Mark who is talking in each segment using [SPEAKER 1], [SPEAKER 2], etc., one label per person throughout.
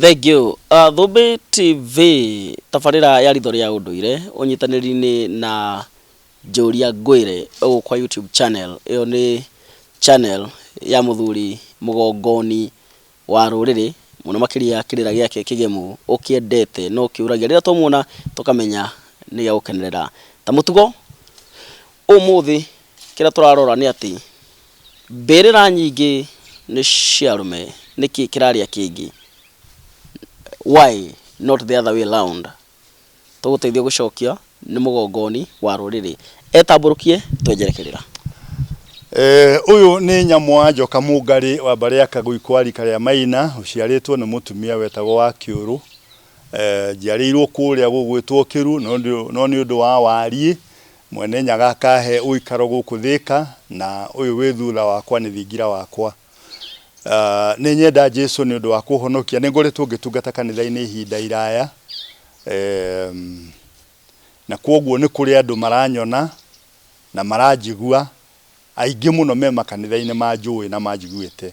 [SPEAKER 1] Thank you. Uh, Thũmbĩ TV tabarĩra ya ritho rĩa ũndũire ũnyitanĩri-inĩ na Njũria Ngwĩre ũgũ kwa YouTube channel. Ĩyo nĩ channel ya mũthuri mũgongoni wa rũrĩrĩ mũno makĩria kĩrĩra gĩake kĩgemu ũkĩendete no kĩũragia rĩrĩa twamuona tũkamenya nĩ gĩa gũkenerera. Ta mũtugo ũmũthĩ kĩrĩa tũrarora nĩ atĩ... Mbĩrĩra nyingĩ nĩ cia arũme, nĩkĩ kĩrarĩa kĩngĩ? Why not the other way round? Tũgũteithie gũcokia nĩ mũgongoni wa rũrĩrĩ. Etambũrũkie twenjerekerera. Ũyũ nĩ Nyamwa Njoka Mũngarĩ wa mbarĩ ya Kagũi kwa rika rĩa Maina, ũciarĩtwo nĩ mũtumia wetagwo Wakĩũrũ. Njiarĩirwo kũrĩa gũgwĩtwo Kĩru no nĩ ũndũ wa wariĩ Mwenenyaga akaahe ũikaro gũkũ Thĩka, na ũyũ wĩ thutha wakwa nĩ thingira wakwa. Nĩ nyenda Jesu nĩ ũndũ wa kũhonokia. Nĩ ngoretwo ngĩtungata kanitha-inĩ ihinda iraya, na kwoguo nĩ kũrĩ andũ maranyona na maranjigua, aingĩ mũno me makanitha-inĩ manjũĩ na manjiguĩte.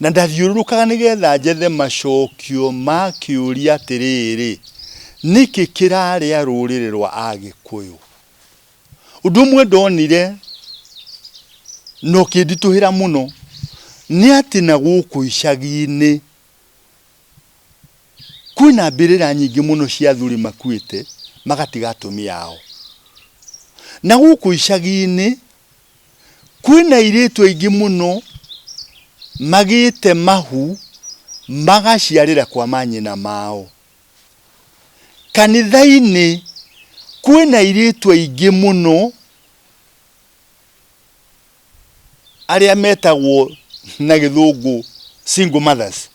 [SPEAKER 1] Na ndathiũrũrũkaga nĩgetha njethe macokio ma kĩũria atĩrĩrĩ, Nĩkĩ kĩrarĩa rũrĩrĩ rwa Agĩkũyũ? Ũndũ ũmwe ndonire na ũkĩnditũhĩra mũno nĩ atĩ na gũkũ icagi-inĩ kwĩna mbĩrĩra nyingĩ mũno cia athuri makuĩte magatiga atumia ao. Na gũkũ icagi-inĩ... Kwĩna airĩtu aingĩ mũno magĩte mahu magaciarĩra kwa manyina mao. Kanitha-inĩ kwĩna airĩtu aingĩ mũno arĩa metagwo na gĩthũngũ single mothers.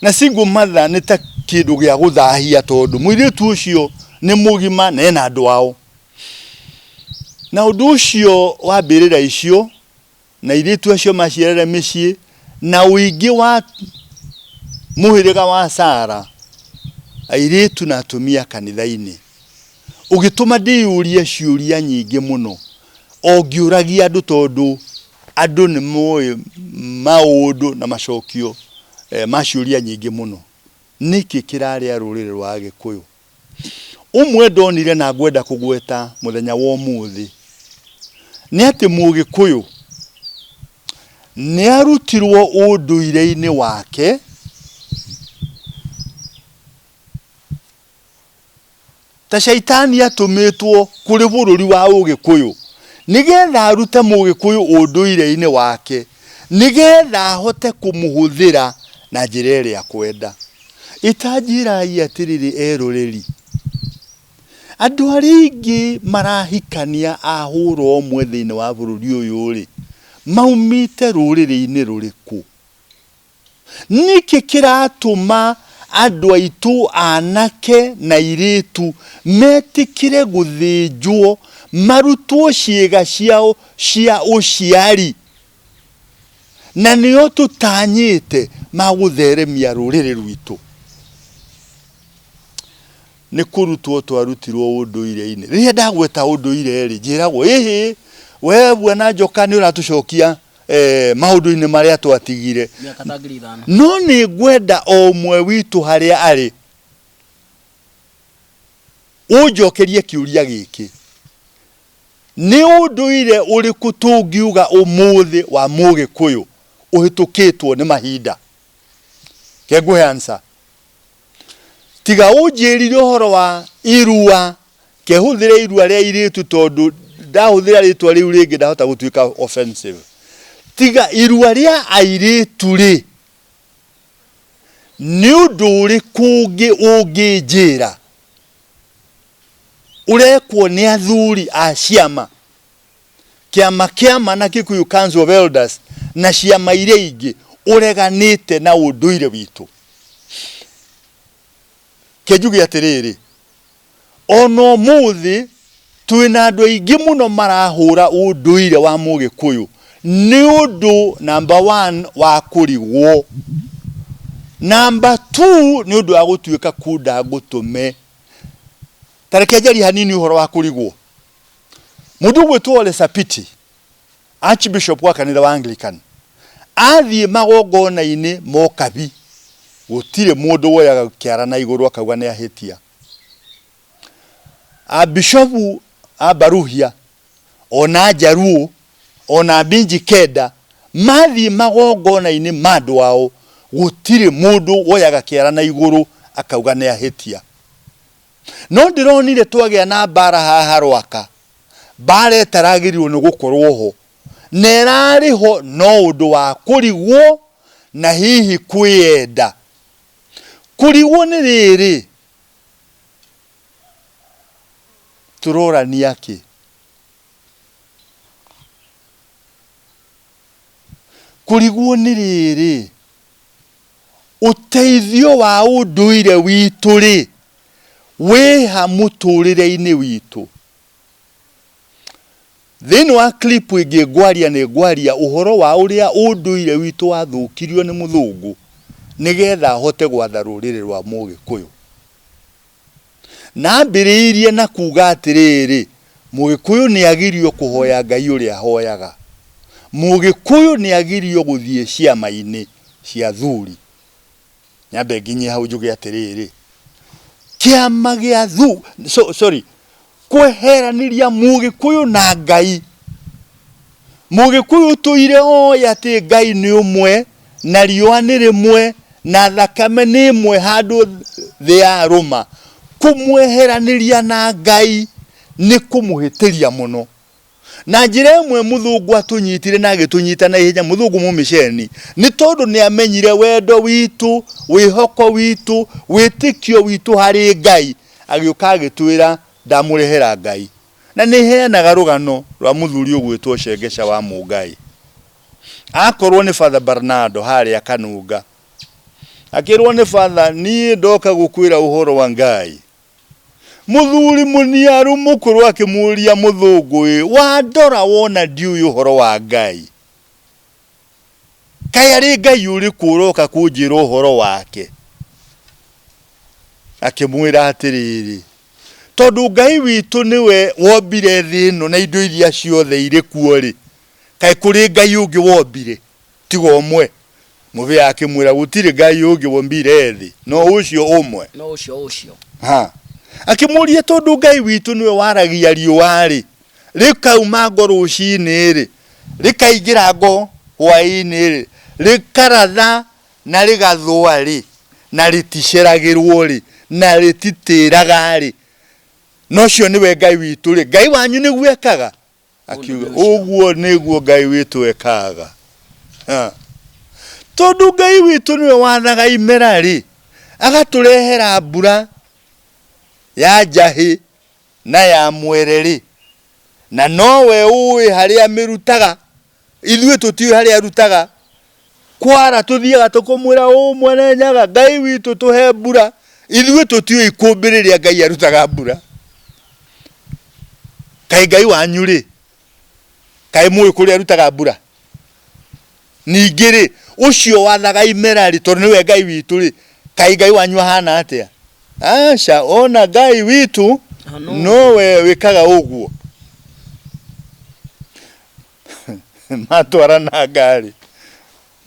[SPEAKER 1] Na single mother nĩ ta kĩndũ gĩa gũthahia tondũ mũirĩtu ũcio nĩ mũgima na ena andũ ao. Na ũndũ ũcio wa mbĩrĩra icio na airĩtu acio maciarĩre mĩciĩ na ũingĩ wa mũhĩrĩga wa Sara, airĩtu na atumia kanitha-inĩ, ũgĩtũma ndĩyũrie ciũria nyingĩ mũno, o ngĩũragia andũ tondũ andũ nĩ moĩ maũndũ na macokio ma ciũria nyingĩ mũno. Nĩkĩ kĩrarĩa rũrĩrĩ rwa Agĩkũyũ? Ũmwe ndonire na ngwenda kũgweta mũthenya wa ũmũthĩ nĩ atĩ Mũgĩkũyũ nĩ arutirwo ũndũire-inĩ wake ta caitani atũmĩtwo kũrĩ bũrũri wa Ũgĩkũyũ nĩgetha arute Mũgĩkũyũ ũndũire-inĩ wake nĩgetha ahote kũmũhũthĩra na njĩra ĩrĩa akwenda. Itanjĩĩrai atĩrĩrĩ eroreri, andũ arĩa aingĩ marahikania a hũra ũmwe thĩinĩ wa bũrũri ũyũ-rĩ, maumĩĩte rũrĩrĩ-inĩ rũrĩkũ? Nĩkĩ kĩratũma andũ aitũ aanake na airĩĩtu meetĩkĩre gũthĩnjwo marutwo ciĩga ciao cia ũciari? na nĩo tũtanyĩte ma gũtheremia rũrĩrĩ rwitũ nĩ kũrutwo twarutirwo ũndũire-inĩ rĩrĩa ndagweta ũndũire-rĩ njĩragwo ĩhĩ we bwana njoka nĩ ũratũcokia eh, maũndũ-inĩ marĩa twatigire miaka ta ngiri ithano no nĩ ngwenda o ũmwe witũ harĩa arĩ ũnjokerie kĩũria gĩkĩ Nĩ ũndũire ũrĩkũ tũngiuga ũmũthĩ wa Mũgĩkũyũ ũhĩtũkĩtwo nĩ mahinda? Reke ngũhe answer. Tiga ũnjĩrire ũhoro wa irua, reke hũthĩre irua rĩa airĩtu tondũ ndahũthĩra rĩtwa rĩu rĩngĩ ndahota gũtuĩka offensive. Tiga irua rĩa airĩtu rĩ, nĩ ũndũ ũrĩkũ ũngĩ ũngĩnjĩra? ũrekwo nĩ athuri a ciama, kĩama kĩama na Kikuyu Council of Elders na ciama iria ingĩ ũreganĩte na ũndũire witũ. Kĩnjuge atĩrĩrĩ, ona ũmũthĩ twĩna andũ aingĩ mũno marahũra ũndũire wa mũgĩkũyũ nĩ ũndũ namba one wa kũrigwo, namba two nĩ ũndũ wa gũtuĩka kunda ngũtũme. Tareke njari hanini uhoro wa kurigwo mundu gwitwo Ole Sapiti Archbishop wa kanitha wa Anglican athie magongona-ini mokabi gutire mundu woyaga kiara na iguru akauga ni ahitia. Abishopu abaruhia ona Njaruũ, ona Binji Kenda, mathiĩ magongona-inĩ ma andũ ao, gũtirĩ mũndũ woyaga kĩara na igũrũ akauga nĩ ahĩtia. No ndĩronire twagĩa na mbaara haha Rwaka, mbaara ĩtaragĩrĩirwo nĩ gũkorwo ho, na ĩrarĩ ho no ũndũ wa kũrigwo na hihi kwĩyenda. Kũrigwo nĩ rĩrĩ, tũrorania kĩ? Kũrigwo nĩ rĩrĩ, ũteithio wa ũndũire witũ rĩ, wĩha mũtũrĩre-inĩ witũ? Thĩinĩ wa clip ĩngĩ ngwaria nĩ ngwaria ũhoro wa ũrĩa ũndũire witũ wathũkirio nĩ mũthũngũ nĩgetha ahote gwatha rũrĩrĩ rwa mũgĩkũyũ. Naambĩrĩirie na kuuga atĩrĩrĩ, Mũgĩkũyũ nĩagĩrio kũhoya Ngai ũrĩa ahoyaga. Mũgĩkũyũ nĩagĩrio gũthiĩ ciama-inĩ cia athuri. Nyambe nginye hau njuge atĩrĩrĩ, kĩama gĩa athuri, sorry, kweheraniria mũgĩkũyũ na Ngai. Mũgĩkũyũ ũtũire oĩ atĩ Ngai nĩ ũmwe na riũa nĩ rĩmwe na thakame nĩ ĩmwe handũ thĩ ya rũma. Kũmweheranĩria na Ngai nĩ kũmũhĩtĩria mũno. Na njĩra ĩmwe mũthũngũ atũnyitire na agĩtũnyita na ihenya, mũthũngũ mũmĩceni, nĩ tondũ nĩ amenyire wendo witũ, wĩhoko witũ, wĩtĩkio witũ harĩ Ngai, agĩũka agĩtwĩra, Ndamũrehera Ngai. Na nĩ heanaga rũgano rwa mũthuri ũgwĩtwo Shengesha wa Mũngai. Akorwo nĩ Father Barnado harĩa Kanunga. Akĩrwo nĩ Father, niĩ ndoka gũkwĩra ũhoro wa Ngai. Mũthuri mũniaru mũkũrũ akĩmũũria, Mũthũngũ-ĩ, wandora wona ndiũĩ ũhoro wa Ngai? Kaĩ arĩ Ngai ũrĩkũ ũroka kũnjĩra ũhoro wake? Akĩmwĩra atĩrĩrĩ, Tondũ Ngai witũ nĩwe wombire thĩ ĩno na indo iria ciothe irĩ kuo-rĩ, kaĩ kũrĩ Ngai ũngĩ wombire? tiga ũmwe. Mũbĩa akĩmwĩra, Gũtirĩ Ngai ũngĩ wombire thĩ, no ũcio ũmwe. No ũcio ũcio. Ha. Akĩmũũria, Tondũ Ngai witũ nĩwe waragia riũa-rĩ, rĩkauma ngo rũcinĩ-rĩ, rĩkaingĩra ngo hwaĩ-inĩ-rĩ, rĩkaratha na rĩgathũa-rĩ, na rĩticeragĩrwo-rĩ, na rĩtitĩraga-rĩ, na ũcio nĩwe Ngai witũ-rĩ, Ngai wanyu nĩguo ekaga akiuga ũguo nĩguo ngai witũ ekaga Ha. tondũ ngai witũ nĩwe wathaga imera rĩ agatũrehera mbura ya njahĩ na ya mwere rĩ na nowe ũĩ harĩa mĩrutaga Ithuĩ tũtiũĩ harĩa arutaga kwara tũthiaga tũkũmwĩra ũũ mwene nyaga ngai witũ tũhe mbura ithuĩ tũtiũĩ ikũmbĩ rĩrĩa ngai arutaga mbura kaĩ ngai wanyu rĩ kaĩ mũĩ kũrĩa arutaga mbura ningĩ rĩ ũcio wathaga imera rĩ tondũ nĩwe ngai witũ rĩ kaĩ ngai wanyu ahana atĩa aca ona ngai witũ nowe wĩkaga ũguo matwara na ngarĩ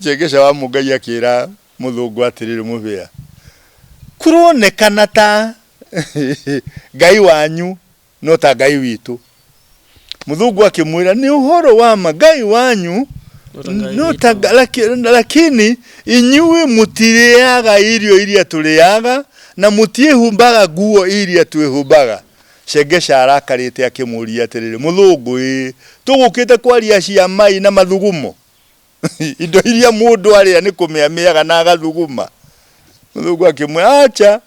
[SPEAKER 1] njengesha wa mũngai akĩra mũthũngũ atĩrĩrĩ mũbĩa kuronekana ta ngai wanyu no ta ngai witũ mũthũngũ akĩmwĩra nĩ ũhoro wa ma ngai wanyu no ta nga- laki- lakini inyuĩ mũtirĩaga irio iria tũrĩaga na mũtiĩhumbaga nguo iria twĩhumbaga Shengesha arakarĩte akĩmũũria atĩrĩrĩ, Mũthũngũ ĩĩ, tũgũkĩte kwaria cia mai na mathugumo? Indo iria mũndũ arĩa nĩ kũmĩamĩaga na agathuguma? Mũthũngũ akĩmwĩra, Aca,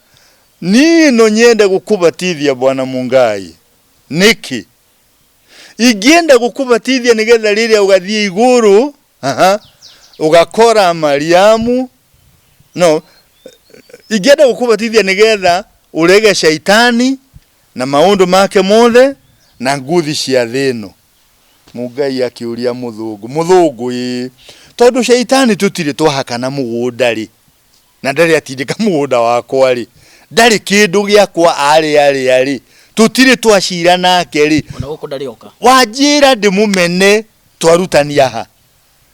[SPEAKER 1] niĩ no nyende gũkũbatithia Bwana Mungai. Nĩkĩ? ingĩenda gũkũbatithia nĩgetha rĩrĩa ũgathiĩ igũrũ aha, ũgakora mariamu no ingĩenda gũkũbatithia nĩgetha ũrege caitani na maũndũ make mothe na nguthi cia thĩ ĩno mungai akĩũria mũthũngũ mũthũngũ ĩĩ tondũ caitani tũtirĩ twahakana mũgũnda rĩ na ndarĩ atindĩka mũgũnda wakwa-rĩ, ndarĩ kĩndũ gĩakwa aarĩarĩa-rĩ, tũtirĩ twacira nake-rĩ, Ona gũkũ ndarĩ oka. wanjĩra ndĩmũmene twarutania ha?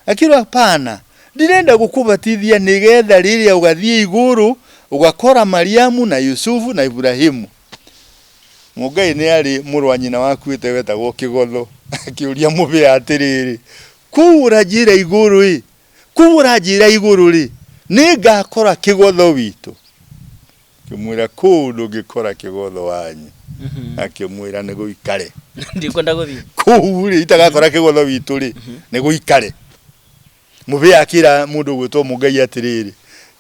[SPEAKER 1] Akiuga, hapana, ndirenda gũkũbatithia nĩgetha rĩrĩa ũgathiĩ igũrũ ũgakora Mariamu na Yusufu na Iburahimu. Mũngai nĩ arĩ mũrũ wa nyina wakuĩte wetagwo Kĩgotho, akĩũria mũbĩa atĩrĩrĩ, kũu ũranjĩra igũrũ-ĩ, Kubura njĩra igũrũ-rĩ, nĩngakora kĩgotho witũ. Akĩmwĩra, Kũu ndũngĩkora kĩgotho wanyu. Akĩmwĩra, Nĩ gũikare. Ndikwenda gũthiĩ. Kũu-rĩ, itagakora kĩgotho witũ-rĩ, nĩ gũikare. Mũbĩa akĩra mũndũ ũgwĩtwo Mũgai atĩrĩrĩ,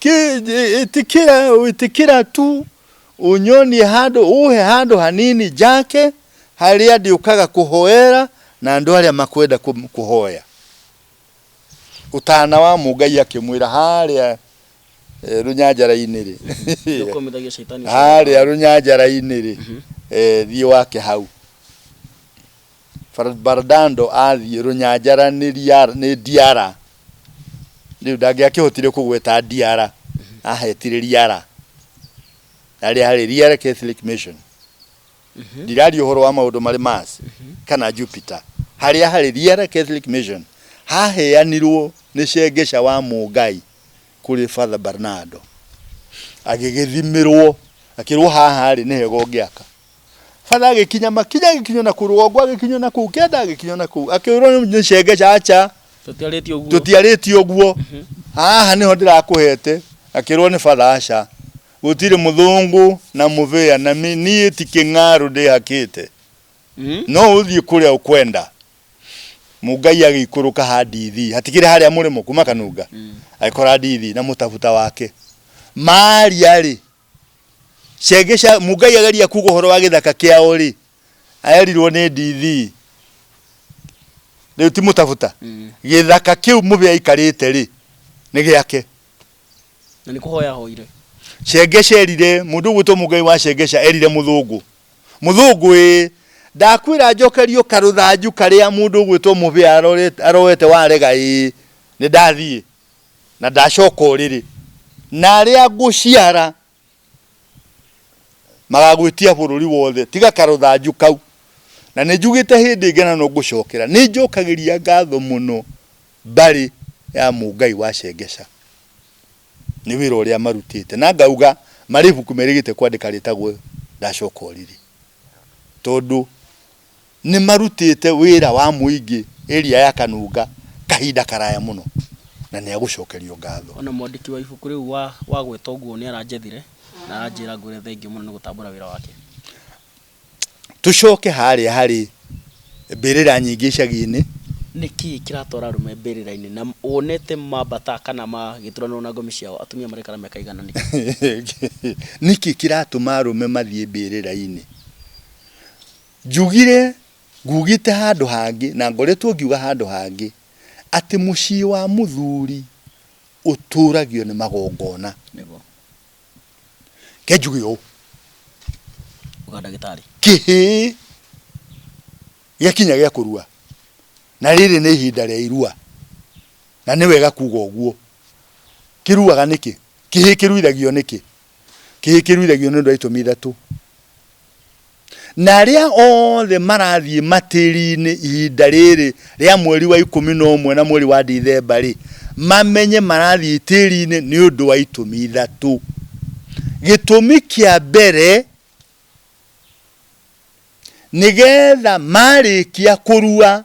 [SPEAKER 1] Kĩ, ĩ- ĩtĩkĩra, ĩtĩkĩra tu ũnyonie handũ, ũhe handũ hanini njake, harĩa ndĩũkaga kũhoera na andũ arĩa makwenda kũ- kũhoya. Ũtana wa mũ Ngai akĩmwĩra harĩa eh, rũnyanjara-inĩ rĩ Ndũkũmithagia shaitani ũcio. harĩa rũnyanjara-inĩ rĩ eh, thiĩ wake hau Bar- Bardando athiĩ rũnyanjara nĩ Riara- nĩ Diara rĩu ndangĩakĩhotire kũgweta Diara ahetire Riara harĩa harĩ Riara Catholic Mission ndiraria ũhoro wa maũndũ marĩ Mars kana Jupiter harĩa harĩ Riera Catholic Mission haheanirwo nĩ Cengeca wa Mũngai kũrĩ Father Bernardo agĩgĩthimĩrwo akĩrwo haha rĩ nĩ hega ũngĩaka Father agĩkinya makinya agĩkinywo na kũu rũgongo agĩkinywo na kũu kenda agĩkinywo na kũu akĩrwo nĩ Cengeca acha tũtiarĩtie ũguo tũtiarĩtie ũguo haha nĩho ndĩrakũhete akĩrwo nĩ Father aca Gũtirĩ mũthũngũ na mũbĩa na mĩ, niĩ ti kĩng'arũ ndĩhakĩte. No ũthiĩ kũrĩa ũkwenda. Mũgai agĩikũrũka ha Ndithi, hatikĩrĩ harĩa mũrĩmo, kuuma Kanunga, agĩkora Ndithi na mũtabuta wake. Maaria-rĩ, cienge cia, Mũgai ageria kuuga ũhoro wa gĩthaka kĩao-rĩ, erirwo nĩ Ndithi, rĩu ti mũtabuta, gĩthaka kĩu mũbĩa aikarĩte-rĩ, nĩ gĩake. Na nĩ kũhoya ahoire. Cengesha erire mũndũ ũgwĩtwo Mũngai wa Cengesha erire Mũthũngũ, Mũthũngũ ĩ, ndakwĩra njokerio karũthanju karĩa mũndũ ũgwĩtwo Mũbĩa aroete warega ĩ, nĩ ndathiĩ na ndacoka ũrĩrĩ, na arĩa ngũciara Magagwĩtia bũrũri wothe tiga karũthanju kau. Na nĩ njugĩte hĩndĩ ĩngĩ na no ngũcokera, nĩ njokagĩria ngatho mũno mbarĩ ya Mũngai wa Shengesha nĩ wĩra ũrĩa marutĩte. Na ngauga marĩ ibuku merĩgĩte kwandĩka rĩtagwo Ndacoka Ũrĩrĩ. Tondũ Nĩ marutĩte wĩra wa mũingĩ area ya Kanunga kahinda karaya mũno na nĩ a gũcokerio ngatho. O na mwandĩki wa ibuku rĩu wa wagwetwo Nguũ nĩ aranjethire na aranjĩra ngwĩre thengiũ mũno nĩ gũtambũra wĩra wake. Tũcoke harĩa harĩ mbĩrĩra nyingĩ icagi-inĩ. Nĩ kĩĩ kĩratwara arũme mbĩrĩra-inĩ na wonete mambata kana magĩturanĩrwo na ngomi ciao atumia maraikara mĩaka ĩigana nĩ kĩĩ? Nĩ kĩĩ kĩratũma arũme mathiĩ mbĩrĩra-inĩ? Njugire, ngugĩte handũ hangĩ, na ngoretwo ngiuga handũ hangĩ, atĩ mũciĩ wa mũthuri ũtũũragio nĩ magongona. Nĩguo. Reke njuge ũũ. Uga ndagĩtarĩ. Kĩhĩĩ gĩakinya gĩa kũrua, na rĩrĩ nĩ ihinda rĩa irua, na nĩ wega kuuga ũguo. Kĩruaga nĩkĩ? Kĩhĩĩ kĩruithagio nĩkĩ? Kĩhĩ kĩruithagio nĩ ũndũ wa itũmi ithatũ. Na arĩa othe marathiĩ matĩri-inĩ ihinda rĩrĩ rĩa mweri wa ikũmi na ũmwe na mweri wa Dithemba rĩ, mamenye marathiĩ itĩri-inĩ nĩ ũndũ wa itũmi ithatũ. Gĩtũmi kĩa mbere nĩgetha marĩkia kũrua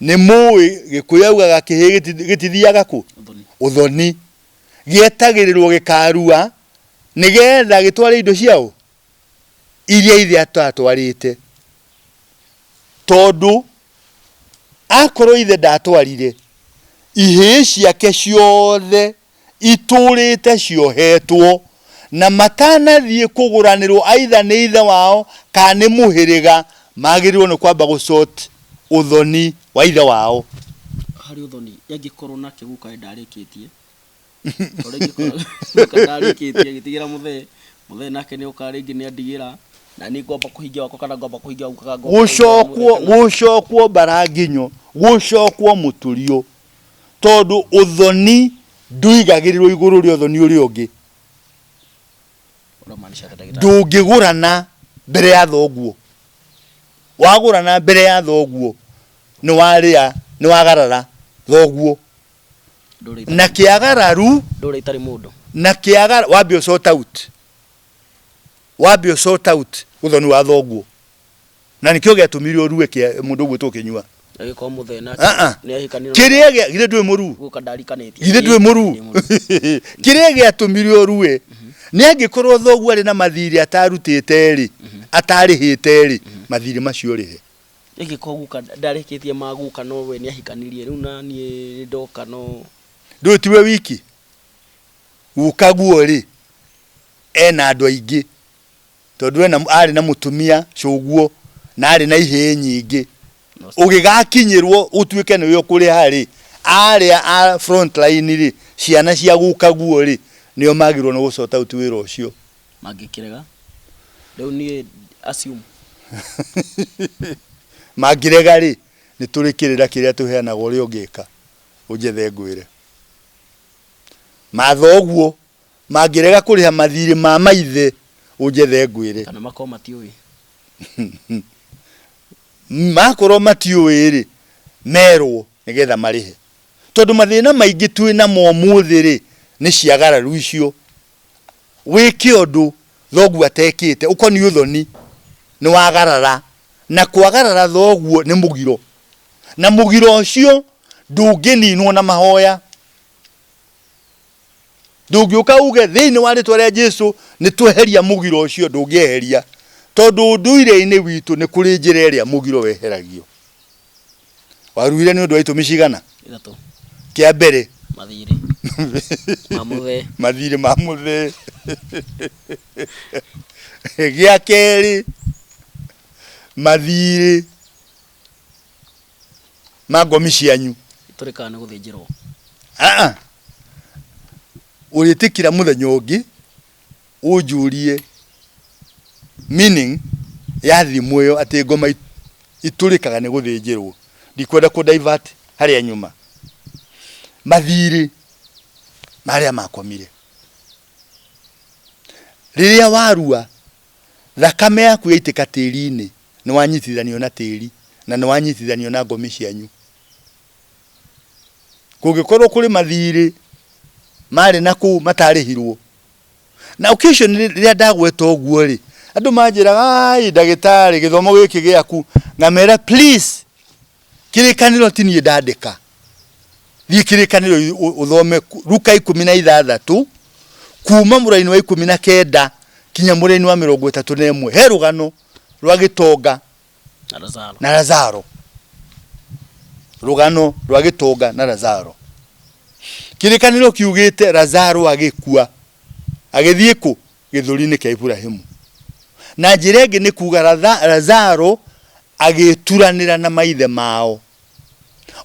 [SPEAKER 1] Nĩ mũĩ gĩkũyũ augaga kĩhĩ gĩtithiaga kũ? Ũthoni. Gĩetagĩrĩrwo gĩkarua nĩgetha gĩtware indo cia ũ? Iria ithe atatwarĩte. Tondũ akorwo ithe ndatwarire, ihĩĩ ciake ciothe itũũrĩte ciohetwo, na matanathiĩ kũgũranĩrwo aitha nĩ ithe wao kana nĩ mũhĩrĩga, magĩrĩirwo nĩ kwamba gũsort ũthoni wa ithe wao. Harĩ ũthoni, angĩkorwo nake guka we ndarĩkĩtie, tondũ rĩngĩ korwo guka ndarĩkĩtie agĩtigĩra mũthee, mũthee nake nĩ oka rĩngĩ nĩ andigĩra, na niĩ ngwamba kũhingia wakwa kana ngwamba kũhingia wa guka kana ngwamba kũhingia wa mũrũ Gũcokwo, kana. gũcokwo mbaranginyo, gũcokwo mũtũriũ, tondũ ũthoni ndũigagĩrĩrwo igũrũ rĩa ũthoni ũrĩa ũngĩ Ũramaanisha atĩa ndagĩtarĩ? ndũngĩgũrana mbere ya thoguo wagũrana mbere ya thoguo nĩ warĩa nĩ wagarara thoguo Ndũrĩ itarĩ- na kĩagararu ndũrĩ itarĩ mũndũ na kĩagara wambe ũsort out wambe ũsort out ũthoni wa thoguo na nĩkĩo gĩatũmire ũrue kĩa mũndũ ũguo tũkĩnyua Agĩkorwo mũthee nake Ah, ah. nĩ ahikanire kĩrĩa gĩa- githĩ ndwĩ mũruu guka ndarikanĩtie. githĩ ndwĩ mũruu Ndĩ mũruu. kĩrĩa gĩatũmire ũrue nĩ angĩkorwo thoguo arĩ na mathirĩ atarutĩte rĩ atarĩhĩte rĩ mathirĩ macio rĩhe Angĩkorwo guka ndarĩkĩtie ma guka no we nĩ ahikanirie rĩu na niĩ ndoka no ndũĩ tiwe wiki gukaguo rĩ ena andũ aingĩ Tondũ ena, arĩ na mũtumia, cũguo, na arĩ na ihĩĩ nyingĩ. Ũgĩgakinyĩrwo ũtuĩke nĩwe ũkũrĩha-rĩ, arĩa a front line-rĩ, ciana cia gũkaguo-rĩ, nĩo magĩrĩirwo nĩ gũ sort out wĩra ũcio. Mangĩkĩrega? Rĩu niĩ assume. Mangĩrega-rĩ, nĩ tũrĩ kĩrĩra kĩrĩa tũheanaga ũrĩa ũngĩka, ũnjethe ngwĩre. Matha ũguo. mangĩrega kũrĩha mathiirĩ ma maithe, ũnjethe ngwĩre. Kana makorwo matiũĩ. Makorwo matiũĩ-rĩ, merwo nĩgetha marĩhe. Tondũ mathĩna maingĩ twĩ namo ũmũthĩ-rĩ, nĩ ciagararu icio. Wĩke ũndũ thoguo atekĩte, ũkoniĩ ũthoni, nĩwagarara. Na kwagarara thoguo nĩ mũgiro. Na mũgiro ũcio ndũngĩninwo na mahoya. ndũngĩũka uge thĩinĩ wa rĩtwa rĩa Jesu nĩ tweheria mũgiro ũcio ndũngĩeheria tondũ ũndũire-inĩ witũ nĩ kũrĩ njĩra ĩrĩa mũgiro weheragio waruhire nĩ ũndũ wa itũmi cigana ithatũ kĩa mbere mathirĩ mamũthee mathirĩ ma mũthee gĩa kerĩ mathirĩ na ngomi cianyu itũrĩkaga nĩ gũthĩnjĩrwo aa ũrĩtĩkira mũthenya ũngĩ ũnjũrie meaning ya thimũ ĩyo atĩ ngoma it- itũrĩkaga nĩ gũthĩnjĩrwo ndikwenda kũ divert harĩa nyuma mathirĩ na arĩa makomire rĩrĩa warua thakame yaku yaitĩka tĩri-inĩ nĩwanyitithanio na tĩri, na nĩwanyitithanio na ngomi cianyu. Kũngĩkorwo kũrĩ mathiirĩ maarĩ na kũu mataarĩhirwo. Na occasion rĩrĩa ndagweta ũguo-rĩ, andũ manjĩraga, aai ndagĩtarĩ gĩthomo gĩkĩ gĩaku, ngamera please kĩrĩkanĩro ti niĩ ndandĩka, thiĩ kĩrĩkanĩro ũthome Luka ikũmi na ithathatũ kuuma mũraini wa ikũmi na kenda kinya mũraini wa mĩrongo ĩtatũ na ĩmwe, he rũgano. rwa gĩtonga na razaro na lazaro rũgano rwa gĩtonga na lazaro kĩrĩkanĩro kiugĩte lazaro agĩkua agĩthiĩ kũ gĩthũri-inĩ kĩa iburahimu na njĩra ĩngĩ nĩ kuga Latha- lazaro agĩturanĩra na maithe mao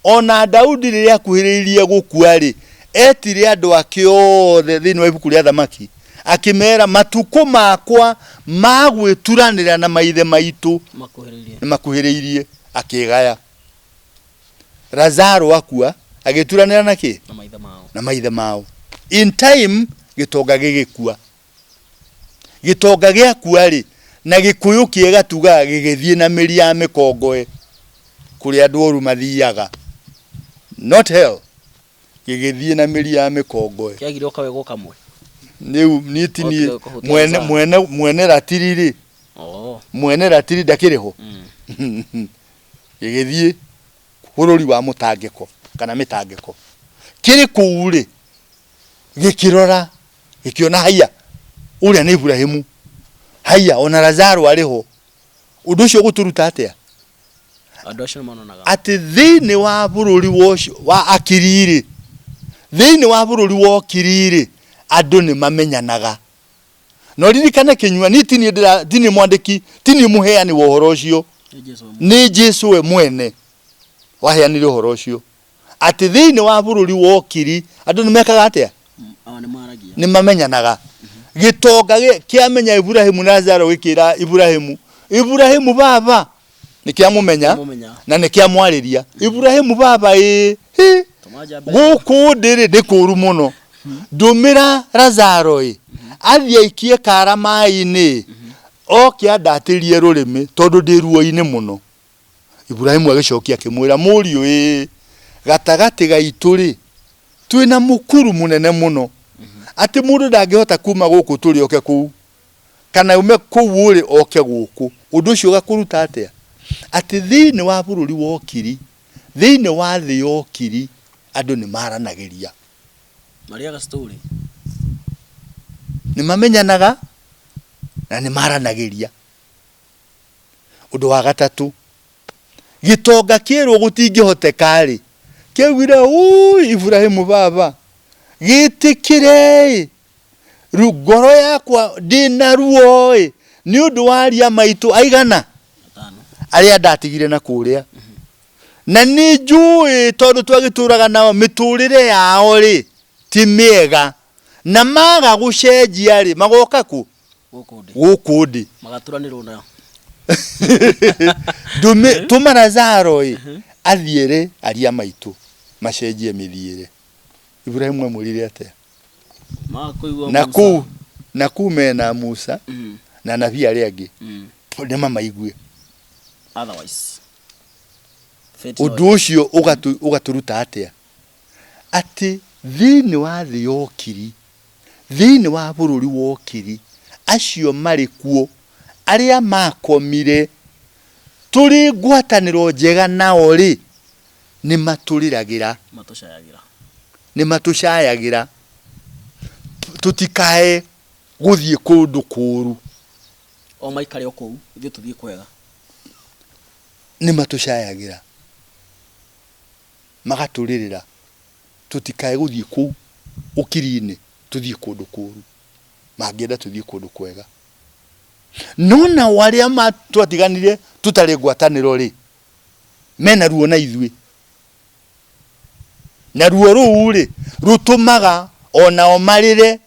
[SPEAKER 1] O na Daudi rĩrĩa akuhĩrĩirie gũkua-rĩ, etire andũ ake othe thĩinĩ wa ibuku rĩa Athamaki, akĩmera, Matukũ makwa ma gwĩturanĩra na maithe maitũ Makuhĩrĩirie. nĩ makuhĩrĩirie. Akĩgaya. Lazaro akua, agĩturanĩra na kĩ? Na maithe mao. Na maithe mao. In time, gĩtonga gĩgĩkua. Gĩtonga gĩakua-rĩ, na Gĩkũyũ kĩega tugaga gĩgĩthiĩ na mĩri ya mĩkongoe kũrĩa andũ oru mathiaga, not hell, gĩgĩthiĩ na mĩri ya mĩkongoe. Kĩagire o kawego kamwe. Rĩu niĩ ti niĩ, Otige kũhũtia mwene Azar. mwene mwene ratiri-rĩ, Oo. mwene ratiri ndakĩrĩ ho? Mm. gĩgĩthiĩ bũrũri wa mũtangĩko kana mĩtangĩko. Kĩrĩ kũu-rĩ, gĩkĩrora gĩkĩona haiya ũrĩa nĩ Iburahimu, haiya ona Lazaro arĩ ho. Ũndũ ũcio ũgũtũruta atĩa? Andũ acio nĩ mononaga. Atĩ thĩinĩ wa bũrũri wa ũcio wa Akiri-rĩ, thĩinĩ wa bũrũri wa Okiri-rĩ, andũ nĩ mamenyanaga. No ririkane kĩnyua, niĩ ti niĩ ndĩra, ti niĩ mwandĩki, ti niĩ mũheani wa ũhoro ũcio, Nĩ Jesu we nĩ Jesu we mwene waheanire ũhoro ũcio. atĩ thĩinĩ wa bũrũri wa ũkiri andũ nĩ mekaga atĩa Aa, nĩ maragia nĩ mamenyanaga gĩtonga gĩ- kĩamenya iburahimu na zaro gĩkĩra iburahimu iburahimu baba nĩ kĩamũmenya Kĩamũmenya. na nĩ kĩamwarĩria iburahimu baba ĩ hi tũmanja mbeca gũkũ ndĩrĩ nĩ kũru mũno ndũmĩra razaro ĩ athiĩ aikie kara maĩ-inĩ ĩ oke andatĩrie rũrĩmĩ tondũ ndĩ ruo-inĩ mũno Iburahimu agĩcokia akĩmwĩra, Mũriũ-ĩ, gatagatĩ gaitũ-rĩ, twĩ na mũkuru mũnene mũno, atĩ mũndũ ndangĩhota kuuma gũkũ tũrĩ oke kũu, kana aume kũu ũrĩ oke gũkũ. Ũndũ ũcio ũgakũruta atĩa? Atĩ thĩinĩ wa bũrũri wa Ũkiri, thĩinĩ wa thĩ ya Ũkiri, andũ nĩmaranagĩria. Marĩaga story. Nĩmamenyanaga na nĩmaranagĩria. Ũndũ wa gatatũ, gĩtonga kĩerwo gũtingĩhoteka-rĩ, kĩaugire ũũi Iburahimu baba, gĩtĩkĩre-ĩ, ngoro yakwa ndĩna ruo-ĩ, nĩ ũndũ wa aria maitũ aigana? arĩa ndatigire na kũrĩa. Na nĩ njũĩ tondũ twagĩtũraga nao mĩtũrĩre yao-rĩ, ti mĩega. Na maga gũcenjia-rĩ, magoka kũ? gũkũ ndĩ gũkũ ndĩ magaturanĩrwo na Ndũmĩ- tũma lazaro ĩ athiĩ rĩ aria maitũ macenjie mĩthiĩre iburahimu amwĩrire atĩa makũigua na Musa. kuu na kuu mena musa Mm, na nabii arĩa angĩ mm. nĩ mamaigue Otherwise, fate no ũndũ ũcio ũgatũ- ũgatũruta atĩa atĩ thĩinĩ wa thĩ ya ũkiri, thĩinĩ wa bũrũri wa ũkiri, acio marĩ kuo, arĩa maakomire, tũrĩ ngwatanĩro njega nao-rĩ, nĩmatũrĩragĩra, Matũcayagĩra. nĩmatũcayagĩra, tũ- tũtikae gũthiĩ kũndũ kũũru, O maikare o kũu, ithuĩ tũthiĩ kwega. nĩmatũcayagĩra. magatũrĩrĩra tũtikae gũthiĩ kũu ũkiri-inĩ tũthiĩ kũndũ kũũru, mangĩenda tũthiĩ kũndũ kwega. No nao arĩa twatiganire tũtarĩ ngwatanĩro-rĩ, mena ruo na ithuĩ. Na ruo rũu-rĩ, rũtũmaga o nao marĩre.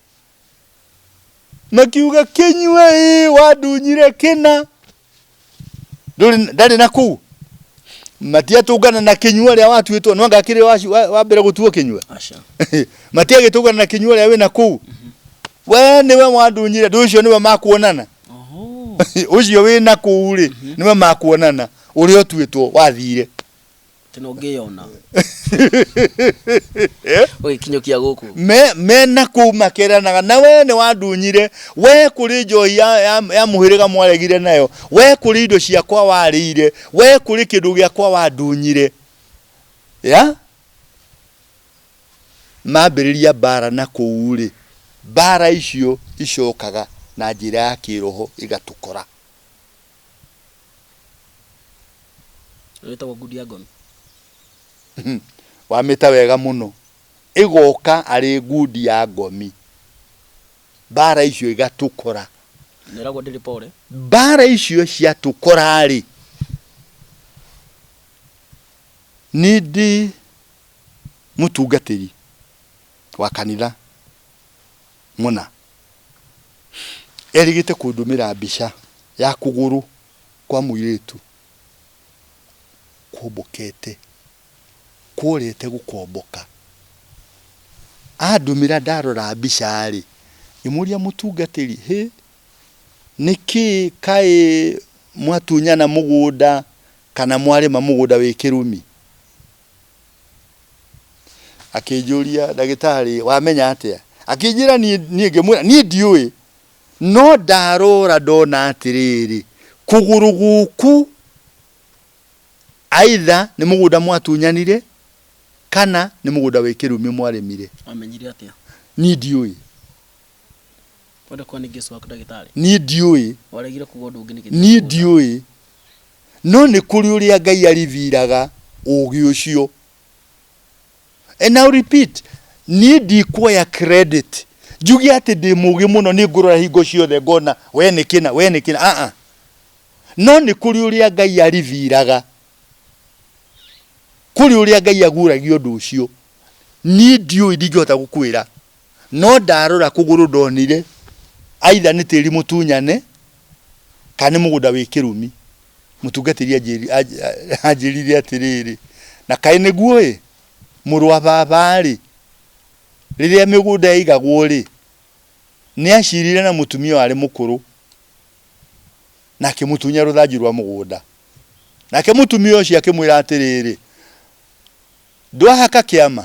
[SPEAKER 1] makiuga kinyue ĩ wandunyire kĩna Ndũrĩ- ndarĩ na kũu matiatũngana na kinyua rĩa watuĩtwo no ngakĩrĩ wa, wa, wa mbere gũtuo kinyua Aca. matiagĩtũngana na kinyua rĩa wĩna kũu we nĩwe wandunyire ndũ ũcio nĩwe makuonana Oho. ũcio wĩna kũu rĩ nĩwe makuonana ũrĩa ũtuĩtwo wathire tena ũngĩyona ũgĩkinyũkia gũkũ me me na kuu makeranaga na we nĩ wandunyire we kũrĩ njohi ya, ya, ya mũhĩrĩga mwaregire nayo we kũrĩ indo ciakwa warĩire we kũrĩ kĩndũ gĩakwa wandunyire ya mambĩrĩria mbara na kũu-rĩ mbara icio icokaga na njĩra ya kĩroho igatũkora wĩtagwo ngundi ya ngomi wamĩta wega mũno ĩgoka arĩ ngundi ya ngomi mbara icio igatũkora neragwo ndĩrĩ pore mbara icio ciatũkora-rĩ nĩ ndĩ mũtungatĩri wa kanitha Mũna? Erĩgĩte kũndũmĩra mbica ya kũgũrũ kwa mũirĩtu kwombokete, kworete gũkomboka. Andũmĩra ndarora mbica-rĩ, ngĩmũria mũtungatĩri, hĩ, nĩkĩĩ kaĩ mwatunyana mũgũnda kana mwarĩma mũgũnda wĩ kĩrumi? Akĩnjũria, Ndagĩtarĩ, wamenya atĩa? Akĩnjĩra, niĩ, niĩ ngĩmwĩra, niĩ ndiũĩ. No ndarora ndona atĩrĩrĩ, kũgũrũ gũkũ aitha nĩ mũgũnda mwatunyanire kana nĩ mũgũnda wĩ kĩrumi mwarĩmire. Wamenyire atĩa? Niĩ ndiũĩ. Wenda kuga nĩ Jesu waku ndagĩtarĩ? Niĩ ndiũĩ. Waregire kuga ũndũ ũngĩ nĩkĩ? Niĩ ndiũĩ. No nĩ kũrĩ ũrĩa Ngai ariviraga ũũgĩ ũcio. And I'll repeat, niĩ ndikuoya credit. Njuge atĩ ndĩ mũũgĩ mũno nĩ ngũrora hingo ciothe ngona we nĩ kĩna, we nĩ kĩna. Ah ah. No nĩ kũrĩ ũrĩa Ngai ariviraga. Kũrĩ ũrĩa Ngai aguũragia ũndũ ũcio. Niĩ ndiũĩ ndingĩhota gũkwĩra. no ndarora kũgũrũ ndonire either nĩ tĩri mũtunyane kana nĩ mũgũnda wĩ kĩrumi. Mũtungatĩri anjĩrire atĩrĩrĩ, na kaĩ nĩguo ĩ, mũrũ wa baba rĩ, rĩrĩa mĩgũnda yaigagwo rĩ, nĩ acirire na mũtumia warĩ mũkũrũ na akĩmũtunya rũthanju rwa mũgũnda. Nake mũtumia ũcio akĩmwĩra atĩrĩrĩ, ndwahaka kĩama?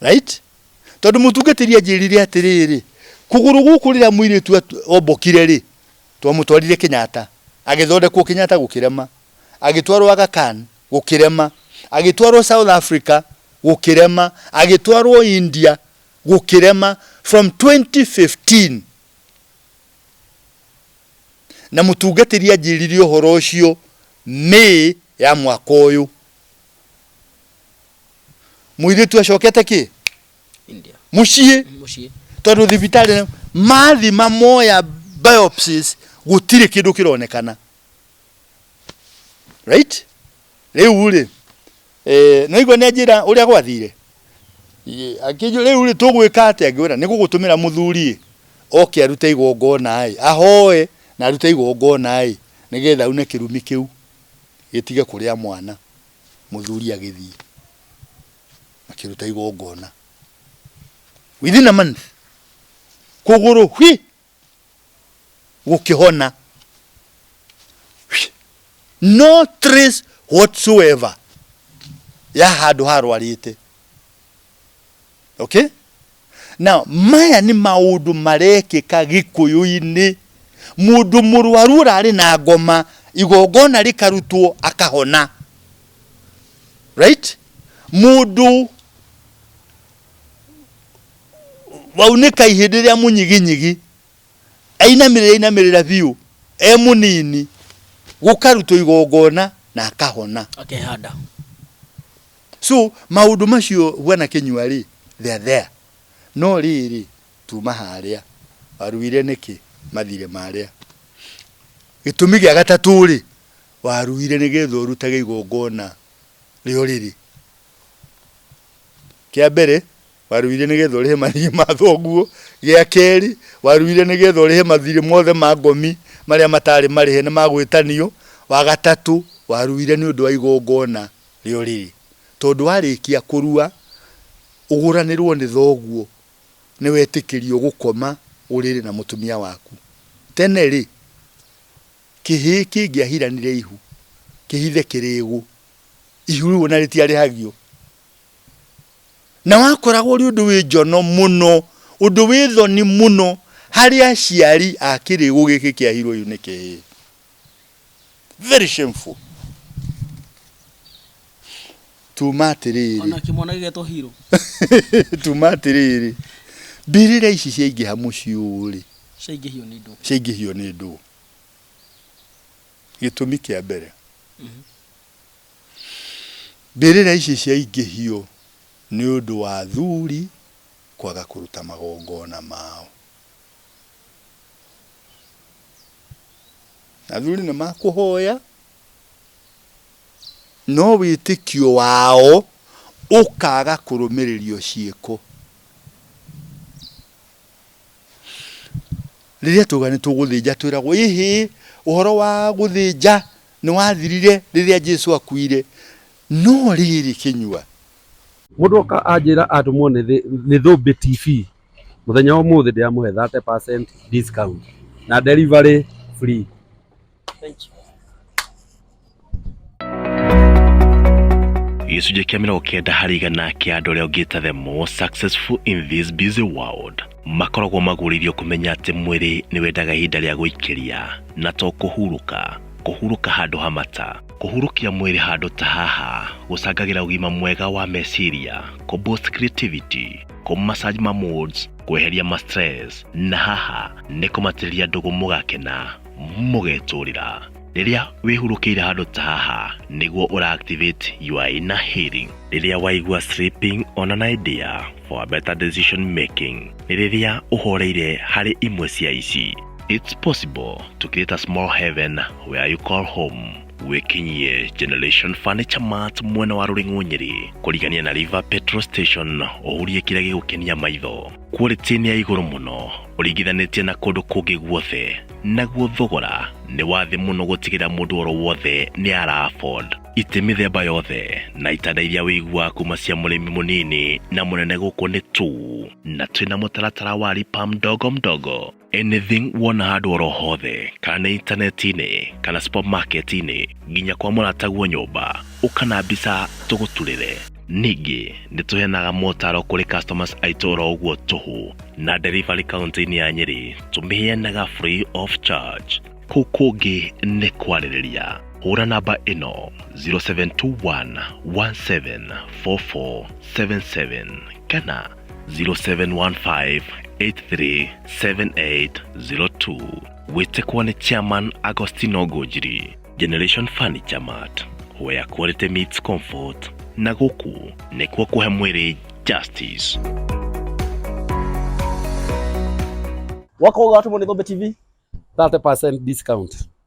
[SPEAKER 1] Right? Tondũ mũtungatĩri anjĩrire atĩrĩrĩ, kũgũrũ gũkũ rĩrĩa mũirĩtu atu- ombokire rĩ, twamũtwarire Kenyatta, agĩthondekwo Kenyatta gũkĩrema, agĩtwarwo Aga Khan gũkĩrema, agĩtwarwo South Africa gũkĩrema, agĩtwarwo India gũkĩrema from 2015 na mũtungatĩri anjĩrire ũhoro ũcio May ya mwaka ũyũ. mwithitu acokete ki India. mucii Muciĩ. tondu thibitari mathi mamoya biopsies gutiri kindu kironekana right riu ri eh no igwe ne njira uria gwathire akiju riu ri tugwika atia ngwira ni gugutumira muthuri oke arute igongona ai ahoe na arute igongona ai nigetha une kirumi kiu gĩtige kũrĩa mwana, mũthuri agĩthiĩ makĩruta igongona. Within a month, kũgũrũ hwi gũkĩhona, no trace whatsoever ya handũ harwarĩte. okay now maya nĩ maũndũ marekĩka gĩkũyũ-inĩ mũndũ mũrwaru ũrarĩ na ngoma igongona rĩkarutwo akahona right mũndũ waunĩka ihĩndĩ rĩa mũnyiginyigi ainamĩrĩra ainamĩrĩra biũ e mũnini gũkarutwo igongona na akahona akehanda So maũndũ macio bwana Kĩnyua rĩ, they are there. No rĩrĩ, tuma harĩa, waruire nĩkĩ? Mathirĩ marĩa. Gĩtũmi gĩa gatatũ rĩ, waruire nĩgetha ũrutage igongona rĩa ũrĩrĩ. Kĩa mbere, Waruire nĩ getha ũrĩhe marĩhi ma thoguo. Gĩa kerĩ, waruire nĩ getha ũrĩhe mathirĩ mothe ma ngomi marĩa mataarĩ marĩhe nĩ magwĩtanio. Wa gatatũ, waruire nĩ ũndũ wa igongona rĩa ũrĩrĩ. Tondũ warĩkia kũrua, ũgũranĩrwo nĩ thoguo, nĩ wetĩkĩrio gũkoma ũrĩrĩ na mũtumia waku. Tene-rĩ, kĩhĩĩ kĩngĩahiranire ihu kĩhithe kĩrĩĩgu, ihu rĩu o na rĩtiarĩhagio. na wakoragwo ũrĩ ũndũ wĩ njono mũno, ũndũ wĩ thoni mũno harĩ aciari a kĩrĩgu gĩkĩ kĩa hero ũyũ nĩ kĩĩ? Very shameful. Tuma atĩrĩrĩ. Ona kĩmwana gĩgetwo hero. Tuma atĩrĩrĩ. Mbirĩra ici ciaingĩha mũciĩ ũũ rĩ. Ciaingĩhio nĩ ndũ. Ciaingĩhio nĩ ndũ. Gĩtũmi kĩa mbere. Mm -hmm. Mbĩrĩra ici ciaingĩhio nĩ ũndũ wa athuri kwaga kũruta magongona mao. Athuri nĩ makũhoya no wĩtĩkio wao ũkaga kũrũmĩrĩrio ciĩko. Rĩrĩa twauga nĩ tũgũthĩnja twĩragwo ĩhĩ ũhoro wa gũthĩnja Nĩ wathirire rĩrĩa Jesu akuire, no rĩrĩ kĩnyua. Mũndũ oka anjĩra atũmwo nĩ Thũmbĩ TV, mũthenya wa ũmũthĩ ndĩramũhe 30% discount na delivery free. Thank you. Gĩcunjĩ kĩa mĩrongo kenda harĩ igana kĩa andũ arĩa ongĩte the most successful in this busy world. makoragwo magũrĩirio kũmenya atĩ mwĩrĩ nĩ wendaga ihinda rĩa gũikĩria na to kũhurũka kũhurũka handũ ha mata kũhurũkia mwĩrĩ handũ ta haha gũcangagĩra ũgima mwega wa meciria kũ boost creativity kũ massage ma moods kweheria ma stress na haha nĩ kũmatĩrĩria ndũgũ mũgakena mũgetũrĩra Rĩrĩa wĩhurũkĩire handũ ta haha nĩguo ũra activate your inner healing. Rĩrĩa waigua sleeping on an idea for a better decision making nĩ rĩrĩa ũhoreire harĩ imwe cia ici. It's possible to create a small heaven where you call home wĩkinyie Generation Furniture Mart mwena wa Rũring'ũ Nyeri kũrigania na River Petrol Station ũhurie kĩrĩa gĩgũkenia maitho. quality nĩ ya igũrũ mũno ũringithanĩtie na kũndũ kũngĩ guothe naguo thogora nĩ wa thĩ mũno gũtigĩra mũndũ oro wothe nĩ ara afford itĩ mĩthemba yothe na itanda iria wĩiguaga kuma cia mũrĩmi mũnini na mũnene gũkũ nĩ tu na twĩna mũtaratara wa ripam ndogo mdogo anything wona handũ oro hothe kana nĩ intaneti-inĩ kana supermarket-inĩ nginya kwa mũrataguo nyũmba ũka na mbica tũgũturĩre ningĩ nĩ tũheanaga motaro kũrĩ customers aitũ oro ũguo tũhũ na delivery kaunti-inĩ ya nyĩrĩ tũmĩheanaga free of charge kũu kũngĩ nĩ kwarĩrĩria hũra namba ĩno 0721 174477 kana 0715 837802 wĩte kuwa nĩ chairman agostino ngũnjiri generation furniture mart where quality meets comfort na gũkũ nĩkuo kũhe mwĩrĩ justice wako uga watu mwenye Gombe TV 30% discount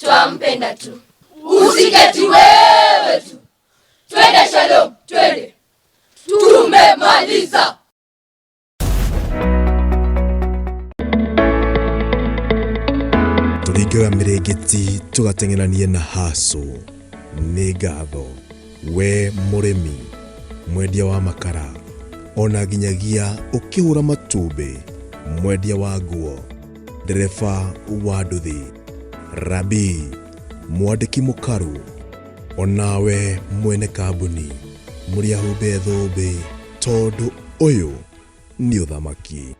[SPEAKER 1] twampenda tu usiketi wewe tu twende shalom twende tumemaliza tũringaga mĩrĩngĩti tũgateng'eranie na hacu nĩ ngatho we mũrĩmi mwendia wa makara ona nginyagia ũkĩhũra matumbĩ mwendia wa nguo ndereba wa nduthi, rabii, mwandĩki mũkaru, o nawe mwene kambuni mũrĩahumbe thũmbĩ tondũ ũyũ nĩ ũthamaki.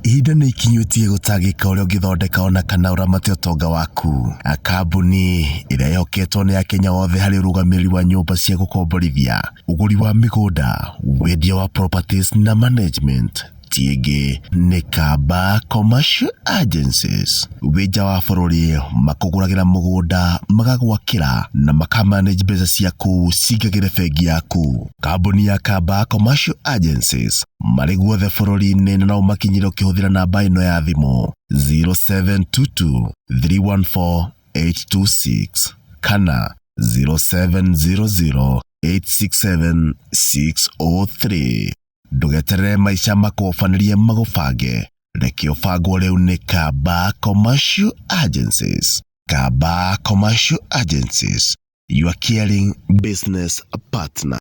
[SPEAKER 1] Ihinda nĩ ikinyũtie gũtangĩka ũrĩa ũngĩthondeka ona kana ũramate ũtonga waku. A Kambuni ĩrĩa ĩhoketwo nĩ Akenya othe harĩ ũrũgamĩrĩri wa nyũmba cia gũkomborithia, ũgũri wa mĩgũnda, wendia wa properties na management. Ciĩngĩ nĩ Kamba Commercial Agencies, wĩ nja wa bũrũri, makũgũragĩra mũgũnda, magagwakĩra na makamanage mbeca ciaku cingagĩre bengi yaku. Kambuni ya Kamba Commercial Agencies marĩ guothe bũrũri-inĩ na no ũmakinyĩre ũkĩhũthĩra namba ĩno ya thimũ 0722 314 826 kana 0700 867 603. Ndũgeterere maica makũbanĩrie magũbange. Reke ũbangwo rĩu nĩ Kamba Commercial Agencies. Kamba Commercial Agencies, your caring business partner.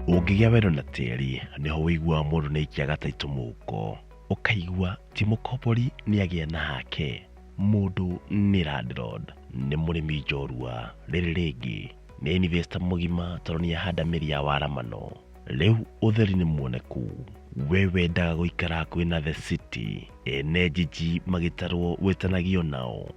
[SPEAKER 1] Ũngĩgĩa wendo na tĩri, nĩho ũiguaga mũndũ nĩ aikiaga taitũ mũhuko. Ũkaigua ti mũkombori nĩ agĩa na hake, mũndũ nĩ landlord. Nĩ mũrĩmi njorua, rĩrĩ rĩngĩ Nĩ investor mũgima tondũ nĩ ahanda mĩri ya waramano. Rĩu ũtheri nĩ muoneku. We wendaga gũikara hakuhĩ na the city. Ene jiji magĩtarwo wĩtanagio nao.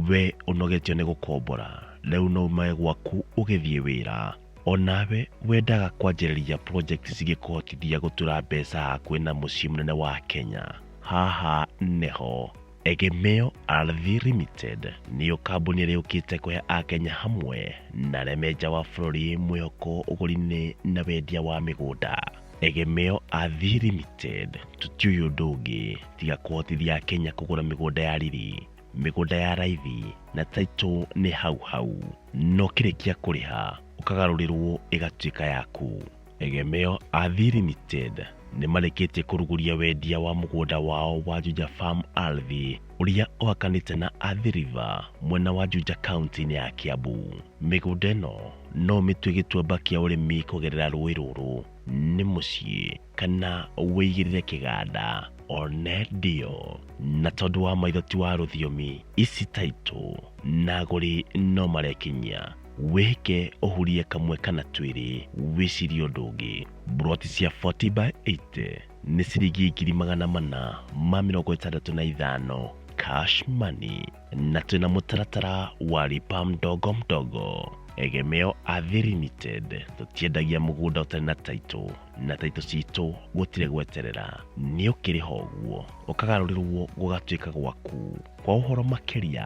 [SPEAKER 1] We ũnogetio nĩ gũkombora. Rĩu no umae gwaku ũgĩthiĩ wĩra. Onawe wendaga kwanjĩrĩria project cingĩkũhotithia gũtura mbeca hakuhĩ na mũciĩ mũnene wa Kenya. Haha nĩho. Egemeo Ardhi Limited nĩyo kambuni ĩrĩa yũkĩte kũhe Akenya hamwe na arĩa me nja wa bũrũri mwĩhoko ũgũri-inĩ na wendia wa mĩgũnda. Egemeo Ardhi Limited tũtiũĩ ũndũ ũngĩ tiga kũhotithia Akenya kũgũra mĩgũnda ya riri, mĩgũnda ya raithi na taitũ nĩ hau hau. No kĩrĩkia kũrĩha ũkagarũrĩrwo ĩgatuĩka yaku. Egemeo a Thii Limited nĩ marĩkĩtie kũruguria wendia wa mũgũnda wao wa Juja Farm Ardhi ũrĩa ũhakanĩte na Athi River mwena wa Juja kaunti-inĩ ya Kiambu. Mĩgũnda ĩno no ũmĩtue gĩtuamba kĩa ũrĩmi kũgerera rũĩ rũrũ nĩ mũciĩ kana wĩigĩrĩre kĩganda one ndio. Na tondũ wa maitho ti wa rũthiomi, ici taitũ na agũri no marekinyia. wĩhĩke ũhurie kamwe kana twĩrĩ wĩcirie ũndũ ũngĩ buroti cia 40 by 80 nĩ ciringi ngiri magana mana ma mĩrongo ĩtandatũ na ithano cash money na twĩna mũtaratara wa lipa mdogo mdogo egemeo athi limited tũtiendagia mũgũnda ũtarĩ na taitũ na taitũ citũ gũtirĩ gweterera nĩ ũkĩrĩha ũguo ũkagarũrĩrwo gũgatuĩka gwaku kwa ũhoro makĩria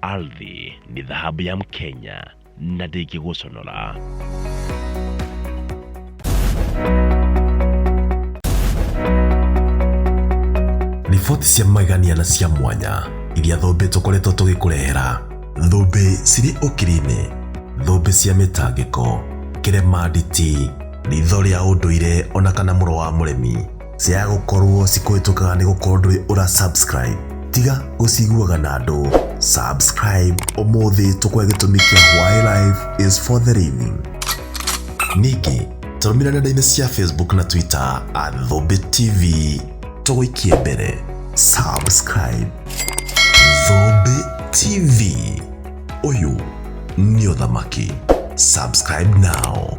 [SPEAKER 1] Ardhi ni dhahabu ya Mkenya na ndĩngĩgũconora. riboti cia magegania na cia mwanya iria thũmbĩ tũkoretwo tũgĩkũrehera thũmbĩ cirĩ ũkiri-inĩ thũmbĩ cia mĩtangĩko kĩremanditi ritho rĩa ũndũire ona kana mũro wa mũremi Ciaya gũkorwo cikũhĩtũkaga nĩ gũkorwo ndũrĩ ũra subscribe tiga gũciguaga na andũ subscribe ũmũthĩ tũkwe gĩtũmi kĩa why life is for the living ningĩ tũrũmĩrĩra nenda-inĩ cia facebook na twitter at thũmbĩ tv tũgũikie mbere subscribe thũmbĩ tv ũyũ nĩ ũthamaki subscribe now